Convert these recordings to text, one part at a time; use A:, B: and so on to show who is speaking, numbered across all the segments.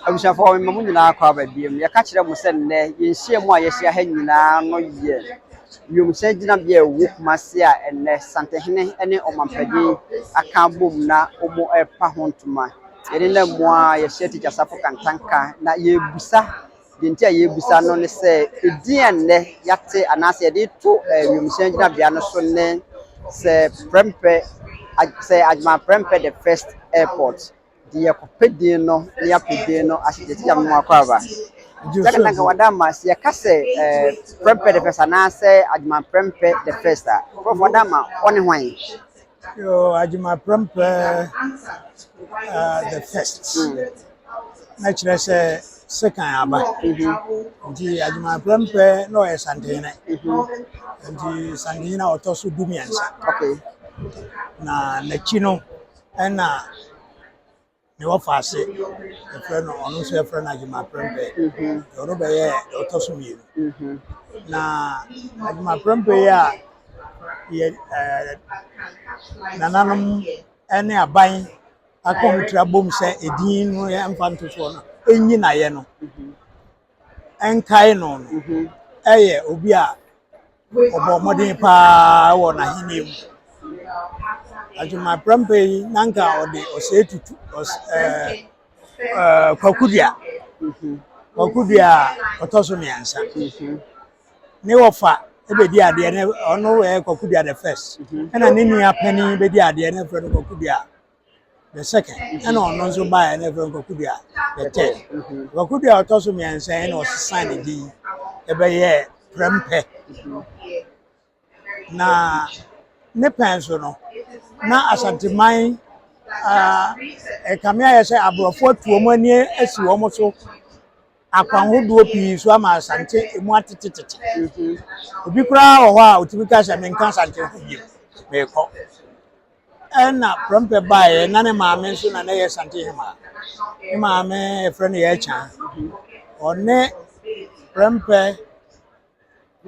A: Abusuafoɔ, mema mo nyinaa kɔ aba biom. Yɛka kyerɛ mo sɛ nnɛ, yɛn nhyiamu a yɛahyia ha nyinaa no yɛ wiemhyɛn gyinabea a ɛwɔ Kumasi a ɛnnɛ Santehene ne Ɔmampanin aka abom na wɔrepa ho ntoma. Yɛne nnɛ mmoa a yɛhyia Tikya Sarfo Kantanka na yɛrebisa, deɛ nti a yɛrebisa no ne sɛ, edin a nnɛ yɛate anaasɛ yɛde reto eh, wiemhyɛn gyinabea no so ne sɛ Prempeh, Ag- sɛ Agyeman Prempeh the First Airport. de yɛkɔpɛ din no na yɛapɛ din no ase gyegye nyame mu akɔ aba sɛ na nka wada ma sɛ yɛka sɛ eh, prɛmpɛ the first anaasɛ adwuma prɛmpɛ the first a prɔfo wada ma ɔne hwan Yo,
B: adwuma prɛmpɛ uh, the first hmm. na kyerɛ sɛ sekan aba mhm. nti adwuma prɛmpɛ na ɔyɛ santenene mhm. nti santenene a ɔtɔ so du mmiɛnsa
A: na
B: n'akyi no Ɛna nea ɔfa ase yɛfrɛ no ɔno nso yɛfrɛ no adwuma prɛmpɛ deɛ ɔno bɛyɛ deɛ ɔtɔ so mmienu na adwuma prɛmpɛ yi a yɛ ɛɛ nananom ɛne aban akɔmtira bom sɛ edin no yɛmfa nto soɔ no ɛnyi na yɛ no. nkae no no yɛ obi a ɔbɔɔ mmɔden paa wɔ n'ahenni mu. Agyemaprɛmpe yi, na anka ɔde ɔsɛe tutu ɔs ɛɛ ɛɛ Kwakudua. Kwakudua a ɔtɔ so mmiɛnsa. Ne wɔfa bɛdi adeɛ no, ɔno yɛ Kwakudua the first, ɛna ne nua panin bɛdi adeɛ no, na wɔfrɛ no Kwakudua. The second, ɛna ɔno nso baeɛ na ɛfɛ Nkwakudua. The third, Nkwakudua a ɔtɔ so mmiɛnsa ɛna ɔsesan ne din ɛbɛyɛ Prɛmpɛ. Na ne pɛn so no, na Asanteman ɛkame ayɛ sɛ aborɔfo atu wɔn ani asi wɔn so akwanhodoɔ pii so ama Asante emu atetetete. Obi koraa wɔ hɔ a ɔtumi ka sɛ menka Asante ho bio, mekɔ. Ɛna prɛmpɛ baeɛ na ne maame nso na na ɛyɛ Asante Hemaa. Ne maame yɛfrɛ no Yɛkyan. Ɔne prɛmpɛ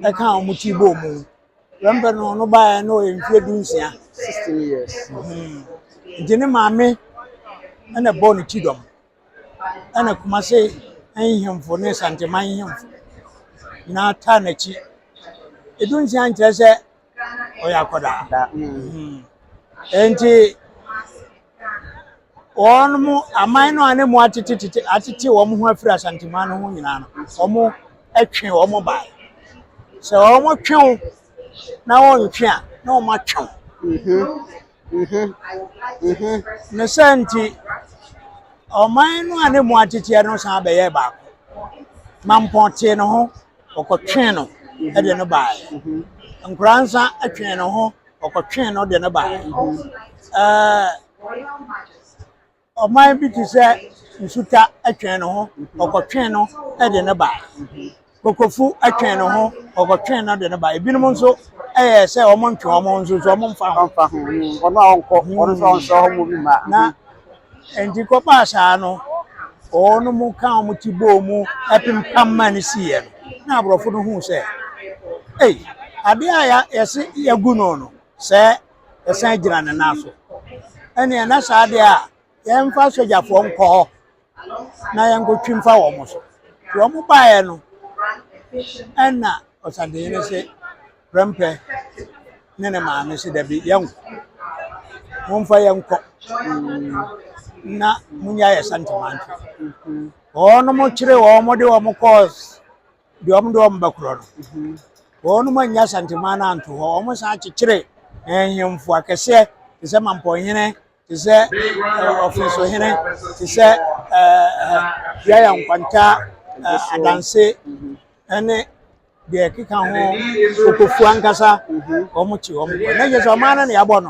B: ɛka a wɔn ti bɔ mu. Prɛmpɛ no ɔno baeɛ na ɔyɛ mfeɛ du nsia. Sixteen years.
A: Mhm. Nti
B: ne maame ɛna ɛbɔɔ ne ti dɔm. Ɛna Kumase nhemfo ne Santeman nhemfo nyinaa taa n'akyi. Edu nsia nkyerɛ sɛ ɔyɛ akwadaa nti wɔn mo aman no a ne mo atete tete atete wɔn ho afiri asanteman no ho nyinaa no wɔn atwe wɔn ba sɛ wɔn twe wo na wɔn ntwe a na wɔn atwe wo ne sɛ nti ɔman no a ne mo atete no san bɛyɛ baako mampɔn tee ne ho ɔkɔtwee no de no baeɛ. Nkoraa nsa twee ne ho, ɔkɔtwee no de no baeɛ. Ɛɛ ɔman bi te sɛ nsuta twee ne ho, ɔkɔtwee no de no baeɛ. Kokofu twee ne ho, ɔkɔtwee no de no baeɛ. Ebinom nso ɛyɛ sɛ wɔn ntwe wɔn ho nso nso wɔn mfa ho. Ɔno a ɔnkɔ,
A: ɔno nso ɔnsɛ hɔ mo bi ma. Na
B: Enti kɔbaa saa no, wɔnom kaa wɔn ti bɔɔ mu pempam maa no siiɛ no, na aborɔfo no huu sɛ, Ei, adeɛ a yɛse yɛagu no no, sɛ ɛsan gyina ne nan so, ɛneɛ na saa adeɛ a yɛmfa sogyafoɔ nkɔ hɔ na yɛnkɔtwi mfa wɔn so. Nti wɔn baeɛ no, ɛna ɔsadehene se, Prɛmpɛ ne ne maame se, Dabi, yɛnkɔ. Momfa yɛnkɔ na munya yɛ santimantwe. Wɔnom kyere wɔn de wɔn kɔɔ deɛ wɔn de wɔn ba korɔ no. Wɔnom annya santiman no anto hɔ. Wɔn san kyekyere nhemfo akɛseɛ te sɛ Mampɔnhene te sɛ Ɔforosohene, te sɛ Yaya Nkwanta, Adanse ne deɛ ɛkeka ho, Okofu ankasa, wɔn te wɔn kɔ. Na ɛnyɛ sɛ ɔman no na yɛabɔ no.